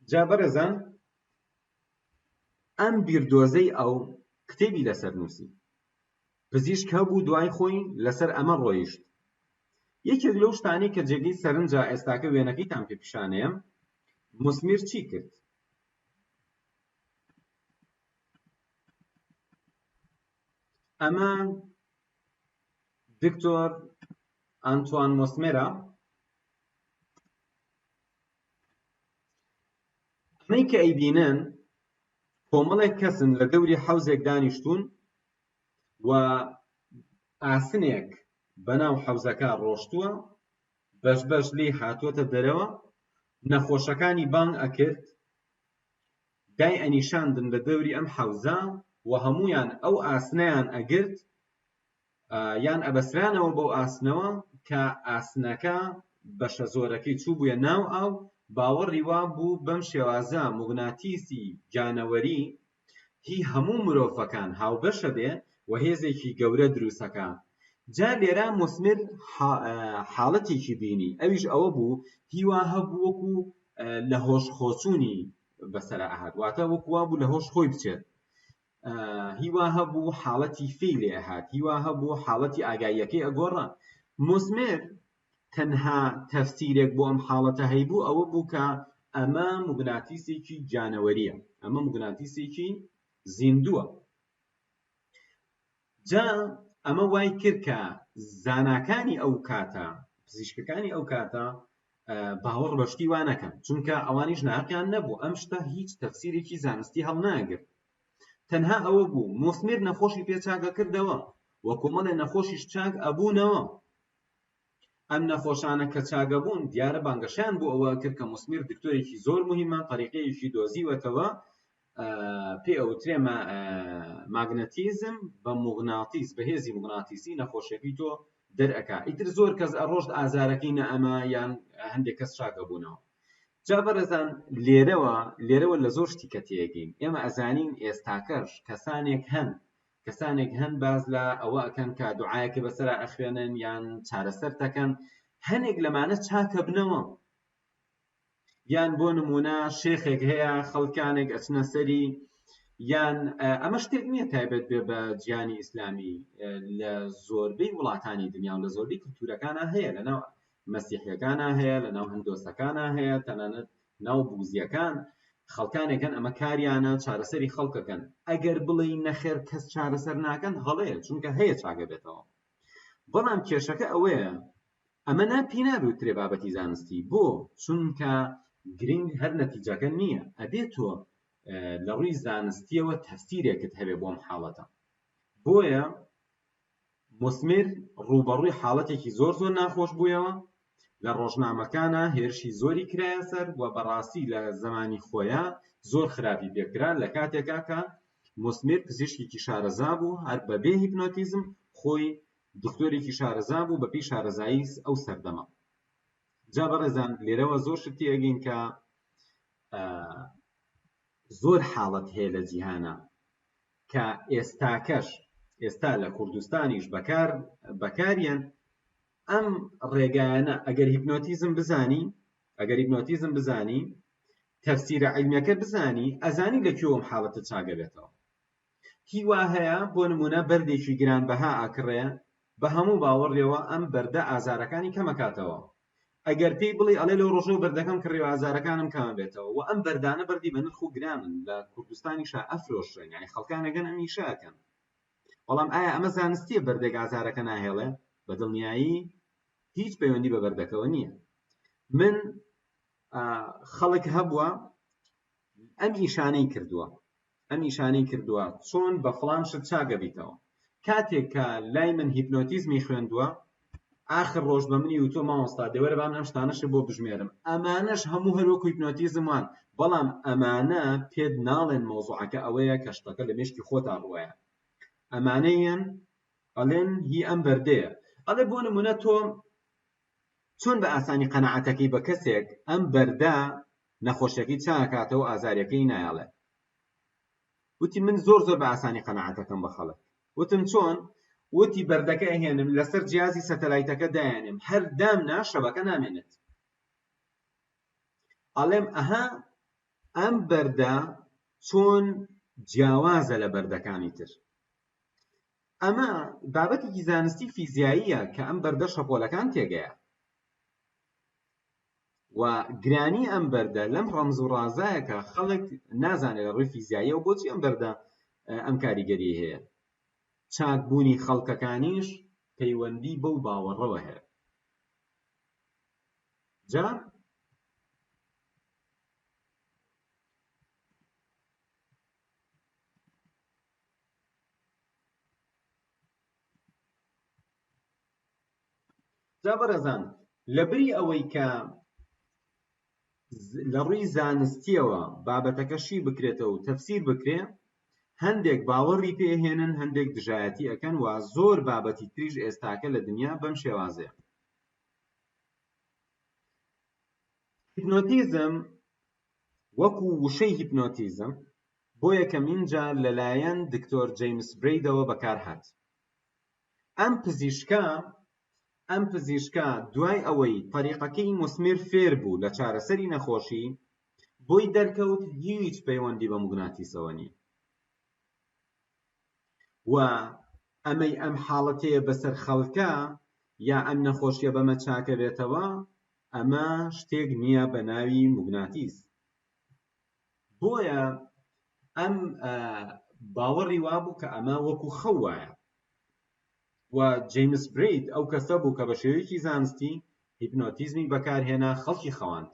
جا بەڕێزان ئەم بیردۆزەی ئەو کتێبی لەسەر نووسی پزیشک هەبوو دوای خۆی لەسەر ئەمە ڕۆیشت یەکێک لەو شتانەی کە جێگەی سەرنجە ئێستاکە وێنەکەیتان پێ پیشانەیە مسمیر چی کرد ئەمە دکتۆر ئەنتوان مۆسمێرا ئەمەی کە ئەیبینن کۆمەڵێک کەسن لە دەوری حەوزێک دانیشتون و ئاسنێک بەناو حەوزەکە ڕۆشتووە بەش بەش لی هاتووەتە دەرەوە نەخۆشەکانی بانگ ئەکرد دای ئەنیشاندن لە دەوری ئەم حەوزە و هەموویان ئەو ئاسنەیان ئەگرت یان ئەبەسرانەوە بەو ئاسنەوە کە ئاسنەکە بەشە زۆرەکەی چوو بووە ناو ئاو باوەڕی وا بوو بەم شێوازە موگناتیسی جانەوەری هی هەموو مرۆڤەکان هاوبەشە بێ و هێزێکی گەورە دروستەکە جا لێرا مسمر حاڵەتێکی بینی ئەویش ئەوە بوو هیوا هەبوو وەکو لە هۆش خۆچوونی بەسەرا ئەهات واتە وەکو وا بوو لە هۆش خۆی بچێت هیوا هەبوو حاڵەتی فی لێ ئەهات هیوا هەبوو حاڵەتی ئاگاییەکەی ئەگۆڕا موسمێر تەنها تەفسیرێک بۆ ئەم حاڵەتە هەیبوو ئەوە بوو کە ئەمە مگناتیسێکی جانەوەریە ئەمە مگناتیسێکی زیندووە جا ئەمە وای کرد کە زاناکانی ئەو کاتە پزیشکەکانی ئەو کاتە باوەڕ بەشتی وانەکەن چونکە ئەوانیش ناقیان نەبوو ئەم شتە هیچ تەفسیرێکی زانستی هەڵناگرت تەنها ئەوە بوو مۆسمیر نەخۆشی پێچاکە کردەوە وە کۆمەڵێ نەخۆشیش چاک ئەبوونەوە ئەم نەخۆشانە کە چاگە بوون دیارە بانگەشەیان بۆ ئەوە کرد کە موسمیر دکتۆرێکی زۆر مهمە طریقەیەکی دۆزیوەتەوە پێ ئەوترێ ماگنەتیزم بە مغناتیس بەهێزی مغناتیسی نەخۆشەکەی تۆ دەرەکە ئیتر زۆر کەس ئەڕۆشت ئازارەکەی نە ئەمە یان هەندێک کەس چاگە بوونەوە جا بەڕێزان لێرەوە لێرەوە لە زۆر شتی کە تێگەین ئێمە ئەزانین ئێستاکەش کەسانێک هەن کەسانێک هەن باس لە ئەوە ئەکەن کە دوعایەکە بەسەرا ئەخوێنن یان چارەسەر تەکەن هەنێک لەمانە چاکە بنەوە یان بۆ نمونە شێخێک هەیە خەڵکانێک ئەچنە سەری یان ئەمە شتێک نییە تایبەت بێ بە جیانی ئیسلامی لە زۆربەی وڵاتانی دنیا و لە زۆربەی کلتورەکانە هەیە لەناو مەسیحەکانە هەیە لەناو هەندۆسەکانە هەیە تەنانەت ناو بوزیەکان خەڵکانێک هەن ئەمە کاریانە چارەسەری خەڵکەکەن ئەگەر بڵێی نەخێر کەس چارەسەر ناکەن هەڵەیە چونکە هەیە چاگە بێتەوە بەڵام کێشەکە ئەوەیە ئەمە نا پێ نابوترێ بابەتی زانستی بۆ چونکە گرنگ هەر نەتیجەکە نییە ئەبێ تۆ لە ڕووی زانستیەوە تەفسیرێکت هەبێ بۆم حاڵەتە بۆیە موسمیر ڕووبەڕووی حاڵەتێکی زۆر زۆر ناخۆش بوویەوە، لە ڕۆژنامەکانا هێرشی زۆری کرایە سەر و بەڕاستی لە زەمانی خۆیا زۆر خراپی پێ کرا، لە کاتێکا کە موسمیر پزیشکێکی شارەزا بوو هەر بە بێ هیپنۆتیزم خۆی دکتۆرێکی شارەزا بوو بە پێی شارەزایی ئەو سەردەمە. جا بەڕێزان لێرەوە زۆر شت تێگەین کە زۆر حاڵەت هەیە لە جیهانا کە ئێستاکەش ئێستا لە کوردستانیش بەکار بەکاریان ئەم ڕێگایانە ئەگەر هیپنۆتیزم بزانی ئەگەر هیپنۆتیزم بزانی تەفسیرە عیلمیەکە بزانی ئەزانی لە کوێوەم حاڵەتە چاگەبێتەوە هیوا هەیە بۆ نمونە بەردێکی گرانبەها ئاکڕێ بە هەموو باوەڕێەوە ئەم بەردە ئازارەکانی کەمەکاتەوە ئەگەر پێی بڵێی ئەڵێ لەو ڕۆژەوە بەردەکەم کڕی و ئازارەکانم کەمە بێتەوە و ئەم بەردانە بەردی بە نرخ و گرانن لە کوردستانیشا ئەفرۆشرێن یانی خەڵکان ئەگەن ئەم ئیشە ئەکەن بەڵام ئایا ئەمە زانستیە بەردێک ئازارەکە ناهێڵێ بە دڵنیایی هیچ پەیوەندی بە بەردەکەوە نییە من خەڵک هەبووە ئەم ئیشانەی کردووە نیشانی کردووە چۆن بە فڵان شت چاک ئەبیتەوە کاتێک کە لای من هیپنۆتیزمی خوێندووە ئاخر ڕۆژ بە منی وتۆ مامۆستا دەوەرە بام ئەم شتانەش بۆ بژمێرم ئەمانەش هەموو هەروەکو هیپنۆتیزم وان بەڵام ئەمانە پێت ناڵێن مەوزوعەکە ئەوەیە کە شتەکە لە مێشکی خۆتا ڕوایە ئەمانەیان ئەڵێن هی ئەم بەردەیە ئەڵێ بۆ نمونە تۆ چۆن بە ئاسانی قەناعەتەکەی بە کەسێک ئەم بەردە نەخۆشەکەی چاکاتەوە ئازاریەکەی نایەڵێ وتی من زۆر زۆر بە ئاسانی قەنەعاتەکەم بە خەڵک وتم چۆن وتی بەردەکە ئەهێنم لەسەر جیازی سەتەلایتەکە دایانم هەر دام نا شەبەکە نامێنێت ئەڵێم ئەها ئەم بەردە چۆن جیاوازە لە بەردەکانی تر ئەمە بابەتێکی زانستی فیزیاییە کە ئەم بەردە شەپۆلەکان تێگەیە و گرانی ئەم بەردە لەم ڕەمز و ڕازایەکە خەڵک نازانێت لە ڕووی فیزیایی و بۆچی ئەم بەردە ئەم کاریگەری هەیە چاکبوونی خەڵکەکانیش پەیوەندی بەو باوەڕەوە هەیە جا جا بەڕێزان لەبری ئەوەی کە لە ڕووی زانستیەوە بابەتەکەشی بکرێتەوە و تەفسیر بکرێ هەندێک باوەڕی پێهێنن هەندێک دژایەتی ئەەکەن و زۆر بابەتی تریش ئێستاکە لە دنیا بەم شێوازەیە هیپنۆتیزم وەکو وشەی هیپنۆتیزم بۆ یەکەمین جار لەلایەن دکتۆر جەیمس برەیدەوە بەکارهات ئەم پزیشکە ئەم پزیشکە دوای ئەوەی طریقەکەی مسمر فێر بوو لە چارەسەری نەخۆشی بۆی دەرکەوت هیچ پەیوەندی بە مگناتیسەوە نییە وە ئەمەی ئەم حاڵەتەیە بەسەر خەڵکا یا ئەم نەخۆشیە بەمە چاکەبێتەوە ئەمە شتێک نییە بە ناوی موگناتیس بۆیە ئەم باوەڕی وابوو کە ئەمە وەکو خەو وایە و جیمس برید ئەو کەسە بوو کە بە شێوەیەکی زانستی هیپنۆتیزمی بەکارهێنا خەڵکی خەواند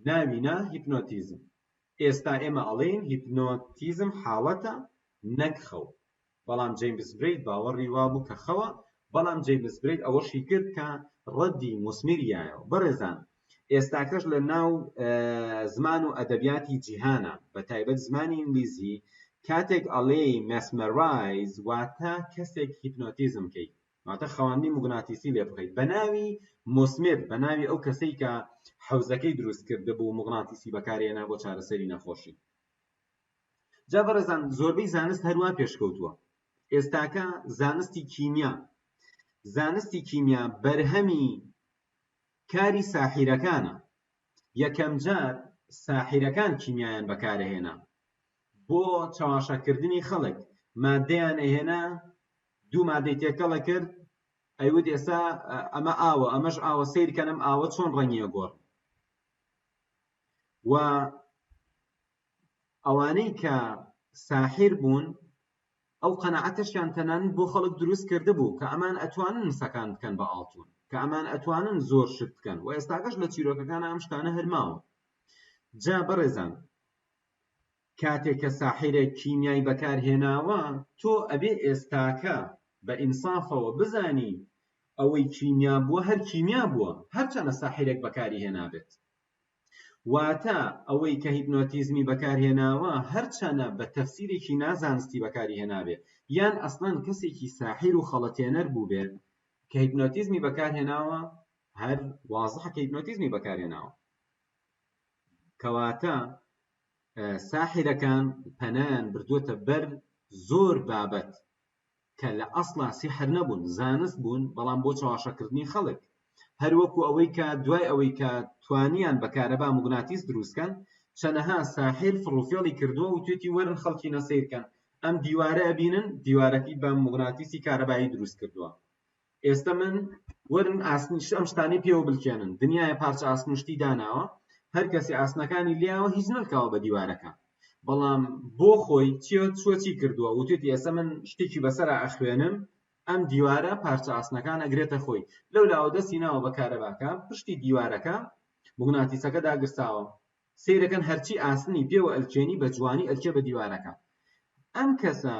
ناوی نا هیپنۆتیزم ئێستا ئێمە ئەڵێین هیپنۆتیزم حاڵەتە نەک خەو بەڵام جەیمس برەید باوەڕی وابوو کە خەوە بەڵام جەیمس برەید ئەوەشی کرد کە ڕەدی موسمیریایەوە بەڕێزان ئێستاکەش لە ناو زمان و ئەدەبیاتی جیهانە بە تایبەت زمانی ئینگلیزی کاتێک ئەڵێی مەسمەرایز واتە کەسێک هیپنۆتیزم کەی واتە خەواندنی موگناتیسی لێ بخەیت بە ناوی مۆسمێر بە ناوی ئەو کەسەی کە حەوزەکەی دروست کرد بۆ موگناتیسی بەکارێنا بۆ چارەسەری نەخۆشی جا بەڕێزان زۆربەی زانست هەروە پێشکەوتووە ئێستاکە زانستی کیمیا زانستی کیمیا بەرهەمی کاری ساحیرەکانە یەکەم جار ساحیرەکان کیمیایان بەکارهێنا بۆ چاواشەکردنی خەڵک مادەیان ئەهێنا دوو مادەی تێکەڵە کرد ئەیوت ئێستا ئەمە ئاوە ئەمەش ئاوە سیرکەنم ئاوە چۆن ڕەنگە گۆڕ و ئەوانەی کە ساحیر بوون ئەو قەنەعەتەشیان تەنان بۆ خەڵک دروست کرده بوو کە ئەمان ئەتوانن مسەکان بکەن بە ئاڵتون کە ئەمان ئەتوانن زۆر شت بکەن و ئێستاگەش لە چیرۆکەکان ئەم شتانە هەرماوە جا بەڕێزان کاتێ کە ساحیرێک کیمیای بەکار هێناوە تۆ ئەبێ ئێستاکە بە ئینسافەوە بزانی ئەوەی کیمیا بووە هەر کیمیا بووە هەرچەنە ساحیرێک بەکاری هێنابێت واتە ئەوەی کە هیپنۆتیزمی بەکار هێناوە هەرچەنە بە تەفسیرێکی نازانستی بەکاری هێنابێت یان ئەسڵەن کەسێکی ساحیر و خەڵەتێنەر بووبێت کە هیپنۆتیزمی بەکار هێناوە هەر وازحە کە هیپنۆتیزمی بەکار هێناوە کەواتە ساحرەکان پەنایان بردووەتە بەر زۆر بابەت کە لە ئەسڵا سیحر نەبوون زانست بوون بەڵام بۆ چاواشەکردنی خەڵک هەروەکو ئەوەی کە دوای ئەوەی کە توانیان بە کارەبا مگناتیس دروستکەن چەنەها ساحر فڕوفێڵی کردووە و توێتی وەرن خەڵکی نەسیرکەن ئەم دیوارە ئەبینن دیوارەکەی بە مگناتیسی کارەبایی دروست کردووە ئێستە من وەرن ئاسنی ش ئەم شتانەی پێوە بلکێنن دنیاە پارچە ئاسن و شتی داناوە هەر کەسی ئاسنەکانی لیاوە هیچ نەلکاوە بە دیوارەکە بەڵام بۆ خۆی چیە چوە چی کردووە وتێتی ئێستا من شتێکی بەسەر ئەخوێنم ئەم دیوارە پارچە ئاسنەکان ئەگرێتە خۆی لەو لاوە دەستی ناوە بە کارەباکە پشتی دیوارەکە مغناتیسەکە داگرساوە سیرەکەن هەرچی ئاسنی پێوە ئەلکێنی بە جوانی ئەلکێ بە دیوارەکە ئەم کەسە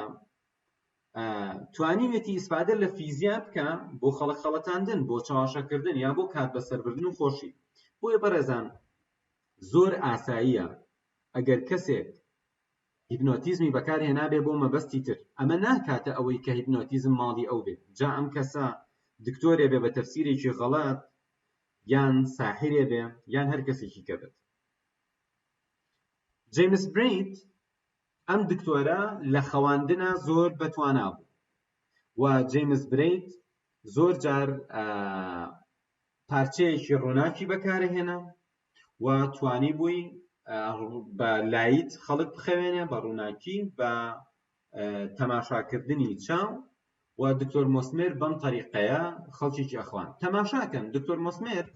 توانیوێتی ئیسفادە لە فیزیا بکە بۆ خەڵک خەڵەتاندن بۆ چاواشەکردن یا بۆ کات بەسەربردن و خۆشی بۆیە بەڕێزان زۆر ئاساییە ئەگەر کەسێک هیپنۆتیزمی بەکارهێنابێ بۆ مەبەستی تر ئەمە ناکاتە ئەوەی کە هیپنۆتیزم ماڵی ئەو بێت جا ئەم کەسە دکتۆرێ بێ بە تەفسیرێکی غەڵات یان ساحرێ بێ یان هەر کەسێکی کە بێت جیمس بریت ئەم دکتۆرە لە خەواندنا زۆر بەتوانا بوو و جەیمس برەیت زۆر جار پارچەیەکی ڕووناکی بەکارهێنا و توانی بووی بە لایت خەڵک بخەوێنێ بە ڕووناکی بە تەماشاکردنی چاو و دکتۆر مۆسمێر بەم تەریقەیە خەڵکیی ئەخوان تەماشاکەن دکتۆر مۆسمێر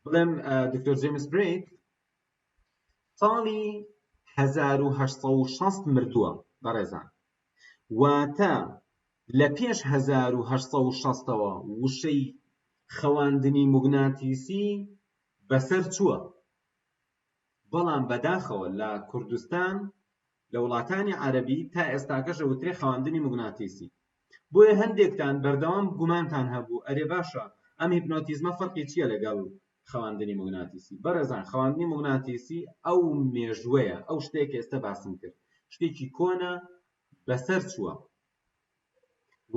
بڵێم دکتۆر جەیمس برەیت ساڵی هەزار و هەشت سەد و شەست مردووە بەڕێزان واتە لە پێش هەزار و هەشت سەد و شەستەوە وشەی خەواندنی موگناتیسی بەسەر چووە بەڵام بەداخەوە لە کوردستان لە وڵاتانی عەرەبی تا ئێستاکەش ئەوترێ خەواندنی موگناتیسی بۆیە هەندێکتان بەردەوام گومانتان هەبوو ئەرێ باشە ئەم هیپنۆتیزمە فەرقی چیە لەگەڵ خەواندنی موگناتیسی بەڕێزان خەواندنی موگناتیسی ئەو مێژوەیە ئەو شتێک ئێستا باسم کرد شتێکی کۆنە بەسەر چووە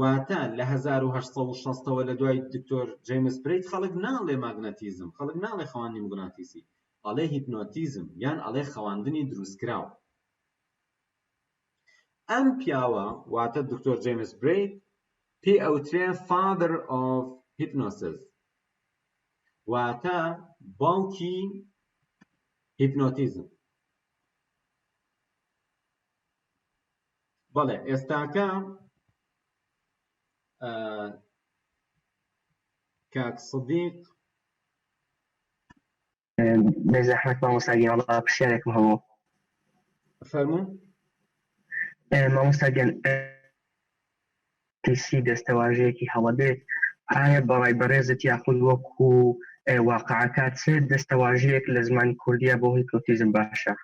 واتە لە هەزار و هەشت سەد و شەست ەوە لە دوای دکتۆر جەیمس پرێت خەڵک ناڵێ ماگناتیزم خەڵک ناڵێ خەواندنی موگناتیسی ئەڵێ هیپنۆتیزم یان ئەڵێ خەواندنی دروستکراو ئەم پیاوە واتە دکتۆر جەیمس پرێت پێ ئەوترێ فادر ئۆف هیپنۆسز واتە باوکی هیپنۆتیزم بەڵێ ئێستاکە کاک سدیق بێزەحمەت مامۆستاگیان وڵا پرسیارێکم هەبوو فەرموو مامۆستاگەن تیسی دەستەواژەیەکی هەڵەبێت ئایا بەڕای بەڕێزت یاخود وەکو واقعکات سێت دەستەواژەیەک لە زمانی کوردیا بۆ هیپۆتیزم باشە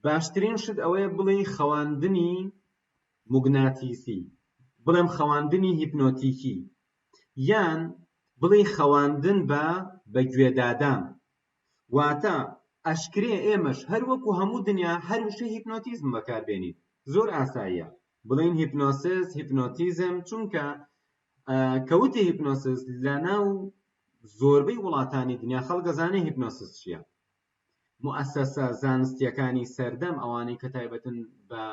باشترین شت ئەوەیە بڵێی خەواندنی موگناتیسی بڵێم خەواندنی هیپنۆتیکی یان بڵێی خەواندن بە بە گوێدادان واتە ئەشکرێ ئێمەش هەروەکو هەموو دنیا هەر وشە هیپنۆتیزم بەکاربێنین زۆر ئاساییە بڵێن هیپنۆسس هیپنۆتیزم چونکە کەوتی هیپنۆسس لە ناو زۆربەی وڵاتانی دنیا خەڵگەزانانی هیپنۆسس چیە موئەسەسە زانستییەکانی سەردەم، ئەوانەی کە تایبەتن بە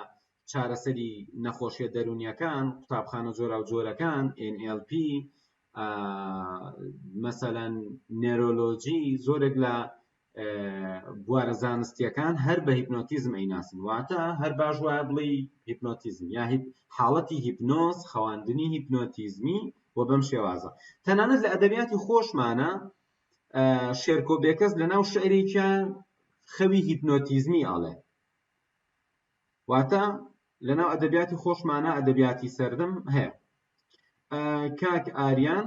چارەسەری نەخۆشییە دەروونییەکان، قوتابخانە جۆراوجۆرەکان، NLP، مەسەلەن نێرۆلۆجی، زۆرێک لە بوارە زانستییەکان هەر بە هیپنۆتیزم ئەیناسن، واتە هەر باش وایە بڵێی هیپنۆتیزم یا حاڵەتی هیپنۆز، خەواندنی هیپنۆتیزمی و بەم شێوازە. تەنانەت لە ئەدەبیاتی خۆشمانە شێرکۆ بێکەس لە ناو شعرێکیان خەوی هیپنۆتیزمی ئاڵێ واتە لە ناو ئەدەبیاتی خۆشمانە ئەدەبیاتی سەردەم هەیە کاک ئاریان